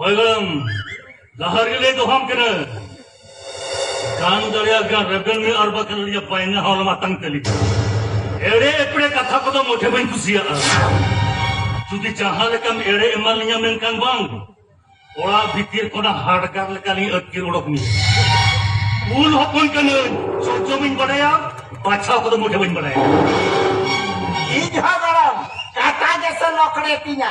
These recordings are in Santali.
ᱦᱚᱭᱜᱚᱲᱚᱢ ᱞᱟᱦᱟ ᱨᱮᱞᱮ ᱫᱚᱦᱚᱢ ᱠᱟᱱᱟ ᱜᱟᱱ ᱫᱟᱲᱮᱭᱟᱜ ᱜᱟᱱ ᱨᱮᱵᱮᱱ ᱢᱮ ᱟᱨ ᱵᱟᱠᱷᱟᱱ ᱟᱹᱞᱤᱧᱟᱜ ᱯᱟᱭᱱᱟ ᱦᱚᱸ ᱢᱟᱛᱟᱝ ᱛᱟᱹᱞᱤᱧ ᱮᱲᱮ ᱮᱯᱲᱮ ᱠᱟᱛᱷᱟ ᱠᱚᱫᱚ ᱢᱚᱴᱷᱮ ᱵᱟᱹᱧ ᱠᱩᱥᱤᱭᱟᱜᱼᱟ ᱡᱩᱫᱤ ᱡᱟᱦᱟᱸ ᱞᱮᱠᱟᱢ ᱮᱲᱮ ᱮᱢᱟ ᱞᱤᱧᱟ ᱢᱮᱱᱠᱷᱟᱱ ᱵᱟᱝ ᱚᱲᱟᱜ ᱵᱷᱤᱛᱤᱨ ᱠᱷᱚᱱᱟᱜ ᱦᱟᱰᱜᱟᱨ ᱞᱮᱠᱟᱞᱤᱧ ᱟᱹᱛᱠᱤᱨ ᱚᱰᱚᱠ ᱢᱮᱭᱟ ᱩᱞ ᱦᱚᱯᱚᱱ ᱠᱟᱹᱱᱟᱹᱧ ᱪᱚᱪᱚ ᱵᱟᱹᱧ ᱵᱟᱰᱟᱭᱟ ᱵᱟᱪᱷᱟᱣ ᱠᱚᱫᱚ ᱢᱚᱴᱷᱮ ᱵᱟᱹᱧ ᱵᱟᱰᱟᱭᱟ ᱤᱧ ᱦᱚᱸ ᱜᱚᱲᱚᱢ ᱠᱟᱴᱟ ᱜᱮᱥᱮ ᱞᱚᱠᱲᱮ ᱛᱤᱧᱟ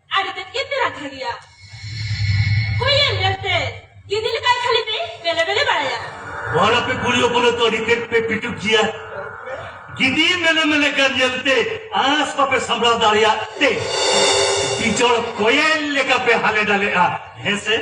ᱟᱨ ᱛᱮᱫ ᱜᱮ ᱯᱮ ᱨᱟᱠᱷᱟ ᱜᱮᱭᱟ ᱦᱩᱭᱮᱱ ᱧᱮᱞ ᱛᱮ ᱜᱤᱫᱤ ᱞᱮᱠᱟ ᱠᱷᱟᱹᱞᱤ ᱯᱮ ᱵᱮᱞᱮ ᱵᱮᱞᱮ ᱵᱟᱲᱟᱭᱟ ᱵᱟᱨ ᱟᱯᱮ ᱠᱩᱲᱤ ᱦᱚᱯᱚᱱ ᱛᱚ ᱟᱹᱰᱤ ᱛᱮᱫ ᱯᱮ ᱯᱤᱴᱩᱠ ᱜᱮᱭᱟ ᱜᱤᱫᱤ ᱢᱮᱞᱮ ᱢᱮᱞᱮ ᱠᱟᱱ ᱧᱮᱞ ᱛᱮ ᱟᱸᱥ ᱵᱟᱯᱮ ᱥᱟᱢᱵᱲᱟᱣ ᱫᱟᱲᱮᱭᱟᱜ ᱛᱮ ᱵᱤᱡᱚᱲ ᱠᱚᱭᱮᱞ ᱞᱮᱠᱟ ᱯᱮ ᱦᱟᱞᱮ ᱰᱟᱞᱮᱜᱼᱟ ᱦᱮᱸ ᱥᱮ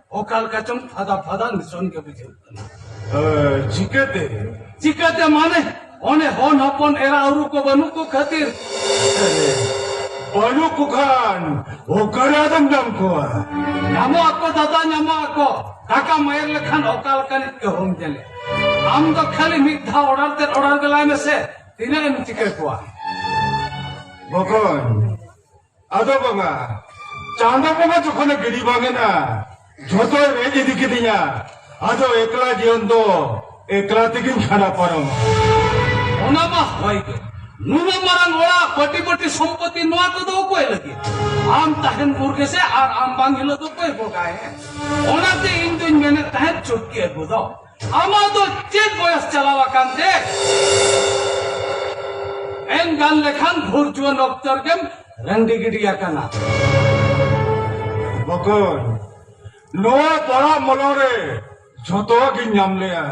ᱚᱠᱟ ᱞᱮᱠᱟ ᱪᱚᱝ ᱯᱷᱟᱫᱟ ᱯᱷᱟᱫᱟ ᱱᱤᱥᱚᱱ ᱜᱮ ᱵᱩᱡᱷᱟᱹᱜ ᱠᱟᱱᱟ ᱪᱤᱠᱟᱹᱛᱮ ᱪᱤᱠᱟᱹᱛᱮ ᱢᱟᱱᱮ ᱚᱱᱮ ᱦᱚᱱ ᱦᱚᱯᱚᱱ ᱮᱨᱟ ᱩᱨᱩ ᱠᱚ ᱵᱟᱹᱱᱩᱜ ᱠᱚ ᱠᱷᱟᱹᱛᱤᱨ ᱵᱟᱹᱱᱩᱜ ᱠᱚ ᱠᱷᱟᱱ ᱚᱠᱟᱨᱮ ᱟᱫᱚᱢ ᱧᱟᱢ ᱠᱚᱣᱟ ᱧᱟᱢᱚᱜ ᱟᱠᱚ ᱫᱟᱫᱟ ᱧᱟᱢᱚᱜ ᱟᱠᱚ ᱴᱟᱠᱟ ᱢᱟᱭᱮᱨ ᱞᱮᱠᱷᱟᱱ ᱚᱠᱟ ᱞᱮᱠᱟᱱᱤᱡ ᱜᱮ ᱦᱚᱢ ᱧᱮᱞᱮ ᱟᱢ ᱫᱚ ᱠᱷᱟᱹᱞᱤ ᱢᱤᱫ ᱫᱷᱟᱣ ᱚᱰᱟᱨ ᱛᱮ ᱚᱰᱟᱨ ᱜᱮᱞᱟᱭ ᱢᱮᱥᱮ ᱛᱤᱱᱟᱹᱜ ᱮᱢ ᱪᱤᱠᱟᱹ ᱠᱚᱣᱟ ᱵᱚᱠᱚᱧ ᱟᱫᱚ ᱵᱟᱵᱟ ᱪᱟᱸᱫᱚ ᱵᱚᱸᱜᱟ ᱡᱚᱠᱷᱚᱱᱮ ᱜᱤᱰᱤ ᱵᱟᱝ ᱮᱱᱟ ᱡᱷᱚᱛᱚᱭ ᱨᱮᱡ ᱤᱫᱤ ᱠᱤᱫᱤᱧᱟ ᱟᱫᱚ ᱮᱠᱞᱟ ᱡᱤᱭᱚᱱ ᱫᱚ ᱮᱠᱞᱟ ᱛᱮᱜᱤᱧ ᱠᱷᱟᱸᱰᱟ ᱯᱟᱨᱚᱢ ᱚᱱᱟ ᱢᱟ ᱦᱚᱭ ᱜᱮ ᱱᱩᱱᱟᱹᱜ ᱢᱟᱨᱟᱝ ᱚᱲᱟᱜ ᱯᱟᱹᱴᱤ ᱯᱟᱹᱴᱤ ᱥᱚᱢᱯᱚᱛᱤ ᱱᱚᱣᱟ ᱠᱚᱫᱚ ᱚᱠᱚᱭ ᱞᱟᱹᱜᱤᱫ ᱟᱢ ᱛᱟᱦᱮᱱ ᱵᱷᱳᱨ ᱜᱮᱥᱮ ᱟᱨ ᱟᱢ ᱵᱟᱝ ᱦᱤᱞᱳᱜ ᱫᱚ ᱚᱠᱚᱭ ᱵᱚᱜᱟᱭ ᱚᱱᱟᱛᱮ ᱤᱧ ᱫᱚᱧ ᱢᱮᱱᱮᱫ ᱛᱟᱦᱮᱸᱫ ᱪᱩᱴᱠᱤ ᱟᱹᱜᱩ ᱫᱚ ᱟᱢᱟᱜ ᱫᱚ ᱪᱮᱫ ᱵᱚᱭᱚᱥ ᱪᱟᱞᱟᱣ ᱟᱠᱟᱱ ᱛᱮ ᱮᱢ ᱜᱟᱱ ᱞᱮᱠᱷᱟᱱ ᱵᱷᱩᱨ ᱡᱩᱣᱟᱹᱱ ᱚᱠᱛᱚ ᱨᱮᱜᱮᱢ ᱨᱟᱺᱰᱤ ᱜᱤᱰᱤ ᱟᱠᱟᱱᱟ ᱵᱚᱠᱚᱧ ᱱᱚᱣᱟ ᱯᱟᱲᱟ ᱢᱚᱞᱚ ᱨᱮ ᱡᱷᱚᱛᱚᱣᱟᱜ ᱜᱤᱧ ᱧᱟᱢ ᱞᱮᱜᱼᱟ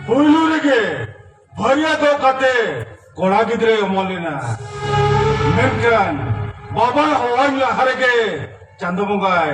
ᱯᱩᱭᱞᱩ ᱨᱮᱜᱮ ᱵᱷᱟᱹᱨᱭᱟᱹ ᱫᱚ ᱠᱟᱛᱮ ᱠᱚᱲᱟ ᱜᱤᱫᱽᱨᱟᱹᱭ ᱚᱢᱚᱱ ᱞᱮᱱᱟ ᱢᱮᱱᱠᱷᱟᱱ ᱵᱟᱵᱟ ᱦᱚᱦᱚᱧ ᱞᱟᱦᱟ ᱨᱮᱜᱮ ᱪᱟᱸᱫᱚ ᱵᱚᱸᱜᱟᱭ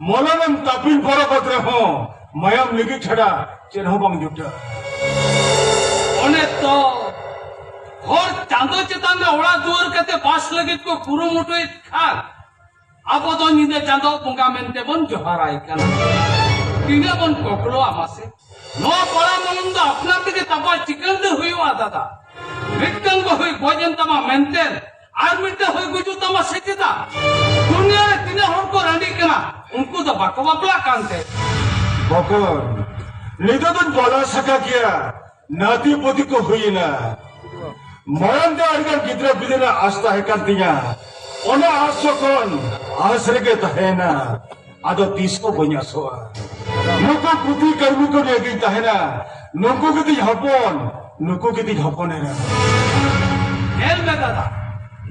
ᱢᱚᱞᱚᱱᱮᱢ ᱛᱟᱯᱤᱞ ᱯᱚᱨᱚᱠᱚᱛ ᱨᱮᱦᱚᱸ ᱢᱟᱭᱟᱢ ᱞᱤᱜᱤ ᱪᱷᱟᱰᱟ ᱪᱮᱫ ᱦᱚᱸ ᱵᱟᱝ ᱡᱩᱴᱟ ᱚᱱᱮ ᱛᱚ ᱦᱚᱲ ᱪᱟᱸᱫᱚ ᱪᱮᱛᱟᱱ ᱨᱮ ᱚᱲᱟᱜ ᱫᱩᱣᱟᱹᱨ ᱠᱟᱛᱮ ᱵᱟᱥ ᱞᱟᱹᱜᱤᱫ ᱠᱚ ᱠᱩᱨᱩᱢᱩᱴᱩᱭᱮᱫ ᱠᱷᱟᱱ ᱟᱵᱚ ᱫᱚ ᱧᱤᱫᱟᱹ ᱪᱟᱸᱫᱚ ᱵᱚᱸᱜᱟ ᱢᱮᱱᱛᱮ ᱵᱚᱱ ᱡᱚᱦᱟᱨᱟᱭ ᱠᱟᱱᱟ ᱛᱤᱱᱟᱹᱜ ᱵᱚᱱ ᱠᱚᱠᱲᱚᱣᱟ ᱢᱟᱥᱮ ᱱᱚᱣᱟ ᱯᱟᱲᱟ ᱢᱚᱞᱚᱢ ᱫᱚ ᱟᱯᱱᱟᱨ ᱛᱮᱜᱮ ᱛᱟᱯᱟ ᱪᱤᱠᱟᱹᱲ ᱫᱚ ᱦᱩᱭᱩᱜᱼᱟ ᱫᱟᱫᱟ ᱢᱤᱫᱴᱟᱝ ᱵᱟᱹᱦᱩᱭ ᱜᱚᱡ ᱮᱱ ᱛᱟᱢᱟ ᱢᱮᱱᱛᱮ ᱟᱨ ᱢᱤᱫᱴᱮᱱ ᱦᱩᱭ ᱜᱩᱡᱩᱜ ᱛᱟᱢᱟ ᱥᱮ ᱪᱮᱫᱟᱜ ᱫᱩᱱᱤᱭᱟᱹ ᱨᱮ ᱛᱤᱱᱟᱹᱜ ᱦᱚᱲ ᱠᱚ ᱨᱟᱺᱰᱤᱜ ᱠᱟᱱᱟ ᱩᱱᱠᱩ ᱫᱚ ᱵᱟᱠᱚ ᱵᱟᱯᱞᱟᱜ ᱠᱟᱱᱛᱮ ᱵᱚᱠᱚᱨ ᱱᱤᱛᱚᱜ ᱫᱚᱧ ᱵᱟᱰᱟᱭ ᱥᱟᱠᱟ ᱜᱮᱭᱟ ᱱᱟᱛᱤ ᱯᱩᱛᱤ ᱠᱚ ᱦᱩᱭᱮᱱᱟ ᱢᱟᱲᱟᱝ ᱫᱚ ᱟᱹᱰᱤᱜᱟᱱ ᱜᱤᱫᱽᱨᱟᱹ ᱯᱤᱫᱽᱨᱟᱹ ᱨᱮᱱᱟᱜ ᱟᱥ ᱛᱟᱦᱮᱸ ᱠᱟᱱ ᱛᱤᱧᱟ ᱚᱱᱟ ᱟᱥ ᱡᱚᱠᱷᱚᱱ ᱟᱥ ᱨᱮᱜᱮ ᱛᱟᱦᱮᱸᱱᱟ ᱟᱫᱚ ᱛᱤᱥ ᱠᱚ ᱵᱟᱹᱧ ᱟᱥᱚᱜᱼᱟ ᱱᱩᱠᱩ ᱯᱩᱛᱤ ᱠᱟᱹᱨᱢᱤ ᱠᱚ ᱱᱤᱭᱟᱹ ᱜᱤᱧ ᱛᱟᱦᱮᱱᱟ ᱱᱩᱠᱩ ᱜᱮᱛᱤᱧ ᱦᱚᱯᱚᱱ ᱱᱩᱠᱩ ᱜᱮᱛᱤᱧ ᱦᱚᱯᱚᱱ ᱮᱨᱟ ᱧᱮᱞ ᱢᱮ ᱫᱟᱫᱟ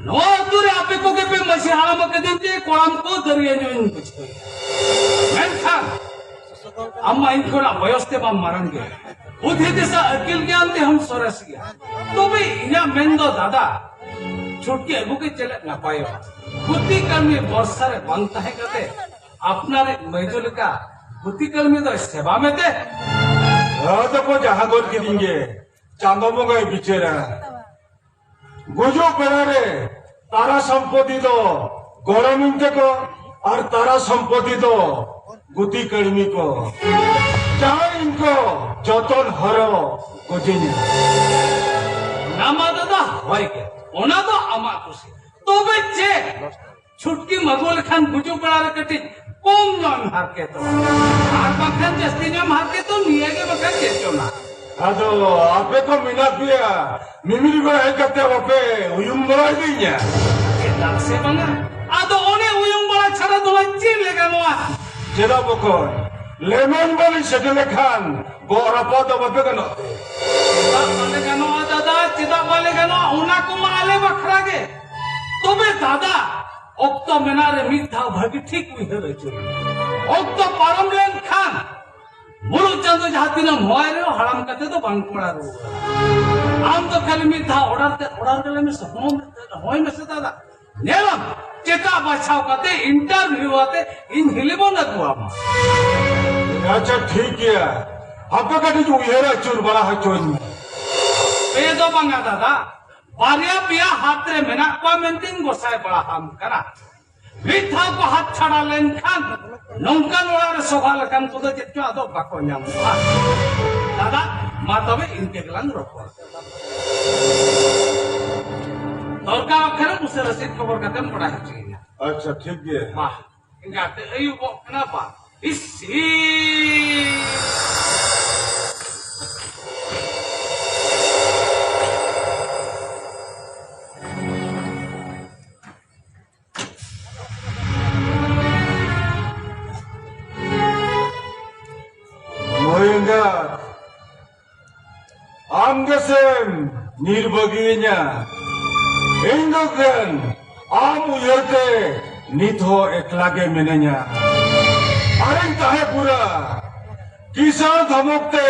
ᱱᱚᱣᱟ ᱟᱹᱛᱩ ᱨᱮ ᱟᱯᱮ ᱠᱚᱜᱮ ᱯᱮ ᱢᱟᱹᱡᱷᱤ ᱦᱟᱲᱟᱢ ᱟᱠᱟᱫᱤᱧ ᱛᱮ ᱠᱚᱲᱟᱢ ᱠᱚ ᱫᱟᱹᱨᱭᱟᱹ ᱧᱚᱜ ᱤᱧ ᱵᱩᱡᱷᱟᱹᱣ ᱢᱮᱱᱠᱷᱟᱱ ᱟᱢ ᱢᱟ ᱤᱧ ᱠᱷᱚᱱᱟᱜ ᱵᱚᱭᱚᱥ ᱛᱮ ᱵᱟᱢ ᱢᱟᱨᱟᱝ ᱜᱮᱭᱟ ᱵᱩᱫᱷᱤ ᱫᱤᱥᱟᱹ ᱟᱹᱠᱤᱞ ᱜᱮᱭᱟᱱ ᱛᱮᱦᱚᱸᱢ ᱥᱚᱨᱮᱥ ᱜᱮᱭᱟ ᱛᱚᱵᱮ ᱤᱧᱟᱹᱜ ᱢᱮᱱ ᱫᱚ ᱫᱟᱫᱟ ᱪᱷᱩᱴᱤ ᱟᱹᱜᱩ ᱜᱮ ᱪᱮᱫ ᱱᱟᱯᱟᱭᱚᱜᱼᱟ ᱜᱩᱛᱤ ᱠᱟᱹᱢᱤ ᱵᱚᱨᱥᱟ ᱨᱮ ᱵᱟᱝ ᱛᱟᱦᱮᱸ ᱠᱟᱛᱮ ᱟᱯᱱᱟᱨ ᱢᱟᱹᱭᱡᱚ ᱞᱮᱠᱟ ᱜᱩᱛᱤ ᱠᱟᱹᱢᱤ ᱫᱚ ᱥᱮᱵᱟ ᱢᱮᱛᱮ ᱦᱟᱹᱫ ᱠᱚ ᱡᱟᱦᱟᱸ ᱜᱚᱫ ᱠᱤᱫᱤᱧ ᱜᱮ ᱪᱟᱸᱫᱚ ᱵᱚᱸᱜᱟᱭ ᱵᱤᱪᱟᱹᱨᱟ ᱜᱩᱡᱩᱜ ᱵᱮᱲᱟ ᱨᱮ ᱛᱟᱨᱟ ᱥᱚᱢᱯᱚᱛᱤ ᱫᱚ ᱜᱚᱲᱚᱢᱤᱧ ᱛᱮᱠᱚ ᱟᱨ ᱛᱟᱨᱟ ᱥᱚᱢᱯᱚᱛᱤ ᱫᱚ ᱜᱩᱛᱤ ᱠᱟᱹᱲᱢᱤ ᱠᱚ ᱡᱟᱦᱟᱸ ᱤᱧ ᱠᱚ ᱡᱚᱛᱚᱱ ᱦᱚᱨᱚ ᱜᱚᱡᱤᱧᱟ ᱱᱟᱢᱟ ᱫᱟᱫᱟ ᱦᱳᱭ ᱜᱮ ᱚᱱᱟ ᱫᱚ ᱟᱢᱟᱜ ᱠᱩᱥᱤ ᱛᱚᱵᱮ ᱪᱮ ᱪᱷᱩᱴᱠᱤ ᱢᱟᱜᱩ ᱞᱮᱠᱷᱟᱱ ᱜᱩᱡᱩᱜ ᱵᱮᱲᱟ ᱨᱮ ᱠᱟᱹᱴᱤᱡ ᱠᱚᱢ ᱧᱚᱜ ᱮᱢ ᱦᱟᱨᱠᱮᱛᱚᱜ ᱟᱨ ᱵᱟᱝᱠᱷᱟᱱ ᱡᱟᱹᱥᱛᱤ ᱧᱚᱜ ᱮᱢ ᱦᱟᱨᱠᱮᱛᱚᱜ ᱱᱤᱭᱟᱹ ᱜᱮ ᱵᱟᱠᱷᱟᱱ ᱪᱮᱫ ᱪᱚᱱᱟ ᱟᱫᱚ ᱟᱯᱮ ᱠᱚ ᱢᱮᱱᱟᱜ ᱯᱮᱭᱟ ᱢᱤᱢᱤᱫ ᱠᱚ ᱦᱮᱡ ᱠᱟᱛᱮ ᱵᱟᱯᱮ ᱩᱭᱩᱝ ᱵᱟᱲᱟ ᱤᱫᱤᱧᱟ ᱪᱮᱫᱟᱜ ᱥᱮ ᱵᱟᱝᱟ ᱟᱫᱚ ᱚᱱᱮ ᱩᱭᱩᱝ ᱵᱟᱲᱟ ᱪᱷᱟᱲᱟ ᱫᱚ ᱪᱮᱫ ᱞᱮ ᱜᱟᱱᱚᱜᱼᱟ ᱪᱮᱫᱟᱜ ᱵᱚᱠᱚᱧ ᱞᱮᱢᱮᱧ ᱵᱟᱹᱞᱤᱧ ᱥᱮᱴᱮᱨ ᱞᱮᱠᱷᱟᱱ ᱜᱚᱜ ᱨᱟᱯᱟᱜ ᱫᱚ ᱵᱟᱯᱮ ᱜᱟᱱᱚᱜ ᱛᱮ ᱪᱮᱫᱟᱜ ᱵᱟᱞᱮ ᱜᱟᱱᱚᱜᱼᱟ ᱫᱟᱫᱟ ᱪᱮᱫᱟᱜ ᱵᱟᱞᱮ ᱜᱟᱱᱚᱜᱼᱟ ᱚᱱᱟ ᱠᱚᱢᱟ ᱟᱞᱮ ᱵᱟᱠᱷᱨᱟ ᱜᱮ ᱛᱚᱵᱮ ᱫᱟᱫᱟ ᱚᱠᱛᱚ ᱢᱮᱱᱟᱜ ᱨᱮ ᱢᱤᱫ ᱫᱷᱟᱣ ᱵᱷᱟᱹᱜᱤ ᱴᱷᱤᱠ ᱩᱭᱦᱟᱹᱨ ᱟᱹᱪᱩᱨ ᱚᱠᱛᱚ ᱯᱟᱨᱚᱢ ᱞᱮᱱᱠᱷᱟᱱ ᱢᱩᱞᱩᱜ ᱪᱟᱸᱫᱚ ᱡᱟᱦᱟᱸ ᱛᱤᱱᱟᱹᱜ ᱢᱚᱭ ᱨᱮ ᱦᱟᱲᱟᱢ ᱠᱟᱛᱮ ᱫᱚ ᱵᱟᱝ ᱠᱚᱲᱟ ᱨᱩᱣᱟᱹᱲᱟ ᱟᱢ ᱫᱚ ᱠᱷᱟᱹᱞᱤ ᱢᱤᱫ ᱫᱷᱟᱣ ᱚᱰᱟᱨ ᱛᱮ ᱚᱰᱟᱨ ᱜᱮᱞᱮ ᱢᱮ ᱥᱚᱦᱚᱢ ᱦᱚᱭ ᱢᱮ ᱥᱮᱛᱟ ᱫᱟ ᱧᱮᱞᱟᱢ ᱪᱮᱛᱟ ᱵᱟᱪᱷᱟᱣ ᱠᱟᱛᱮ ᱤᱱᱴᱟᱨᱵᱷᱤᱭᱩ ᱟᱛᱮ ᱤᱧ ᱦᱤᱞᱤᱵᱚᱱ ᱟᱹᱜᱩᱣᱟᱢᱟ ᱟᱪᱪᱷᱟ ᱴᱷᱤᱠ ᱜᱮᱭᱟ ᱟᱯᱮ ᱠᱟᱹᱴᱤᱡ ᱩᱭᱦᱟᱹᱨ ᱟᱹᱪᱩᱨ ᱵᱟᱲᱟ ᱦᱚᱪᱚᱧ ᱢᱮ ᱯᱮ ᱫᱚ ᱵᱟᱝᱟ ᱫᱟᱫᱟ ᱵᱟᱨᱭᱟ ᱯᱮᱭᱟ ᱦᱟᱛ ᱨᱮ ᱢᱮᱱᱟᱜ ᱠᱚᱣᱟ ᱢᱮᱱᱛᱮᱧ ᱜᱚᱥᱟᱭ ᱵᱟᱲᱟ ᱟᱢ ᱠᱟᱱᱟ ᱢᱤᱫ ᱫᱷᱟᱣ ᱠᱚ ᱦᱟᱛ ᱪᱷᱟᱲᱟ ᱞᱮᱱᱠᱷᱟᱱ ᱱᱚᱝᱠᱟᱱ ᱚᱲᱟᱜ ᱨᱮ ᱥᱚᱵᱷᱟ ᱞᱮᱠᱟᱱ ᱠᱚᱫᱚ ᱪᱮᱫ ᱪᱚ ᱟᱫᱚ ᱵᱟᱠᱚ ᱧᱟᱢᱚᱜᱼᱟ ᱫᱟᱫᱟ ᱢᱟ ᱛᱚᱵᱮ ᱤᱱᱠᱟᱹ ᱜᱮᱞᱟᱝ ᱨᱚᱯᱚᱲ ᱫᱚᱨᱠᱟᱨ ᱠᱷᱟᱱ ᱩᱥᱟᱹᱨᱟ ᱥᱮᱫ ᱠᱷᱚᱵᱚᱨ ᱠᱟᱛᱮᱢ ᱵᱟᱲᱟᱭ ᱦᱚᱪᱚᱭᱤᱧᱟ ᱟᱪᱪᱷᱟ ᱴᱷᱤᱠ ᱜᱮᱭᱟ ᱢᱟ ᱤᱱᱠᱟᱛᱮ ᱟᱹᱭᱩᱵᱚᱜ ᱠᱟᱱᱟ ᱵᱟ ᱤᱥᱤ ᱟᱢ ᱜᱮᱥᱮᱢ ᱧᱤᱨ ᱵᱟᱹᱜᱤᱭᱟᱹᱧᱟ ᱤᱧ ᱫᱚ ᱠᱷᱟᱱ ᱟᱢ ᱩᱭᱦᱟᱹᱨ ᱛᱮ ᱱᱤᱛ ᱦᱚᱸ ᱮᱠᱞᱟ ᱜᱮ ᱢᱤᱱᱟᱹᱧᱟ ᱟᱨᱤᱧ ᱛᱟᱦᱮᱸ ᱯᱩᱨᱟ ᱠᱤᱥᱟᱱ ᱫᱷᱚᱢᱚᱠ ᱛᱮ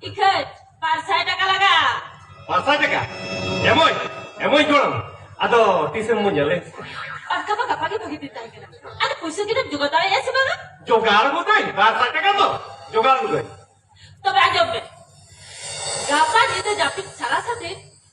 ᱴᱤᱠᱤᱴ ᱵᱟᱨ ᱥᱟᱭ ᱴᱟᱠᱟ ᱞᱟᱜᱟᱜᱼᱟ ᱵᱟᱨ ᱥᱟᱭ ᱴᱟᱠᱟ ᱮᱢᱚᱭ ᱮᱢᱚᱭ ᱡᱚᱲᱟᱢ ᱟᱫᱚ ᱛᱤᱥᱮᱢ ᱵᱚᱱ ᱧᱮᱞᱮ ᱯᱟᱠᱟ ᱢᱟ ᱜᱟᱯᱟ ᱜᱮ ᱵᱷᱟᱹᱜᱤ ᱫᱤᱱ ᱛᱟᱦᱮᱸ ᱠᱟᱱᱟ ᱟᱫᱚ ᱯᱩᱭᱥᱟᱹ ᱜᱤᱫᱟᱹᱢ ᱡᱚᱜᱟᱲ ᱫᱟᱲᱮᱭᱟᱜᱼᱟ ᱥᱮ ᱵᱟᱝᱟ ᱡᱚᱜᱟᱲ ᱜᱚᱫᱟᱹᱧ ᱵᱟᱨ ᱥᱟᱭ ᱴᱟᱠᱟ ᱫᱚ ᱡᱚᱜᱟᱲ ᱜᱚᱫᱟᱹᱧ ᱛᱚᱵᱮ ᱟᱸᱡᱚᱢ ᱢᱮ ᱜᱟᱯᱟ ᱧᱤᱫᱟᱹ ᱡᱟᱹᱯᱤᱫ ᱥᱟᱞᱟ ᱥᱟᱛᱮ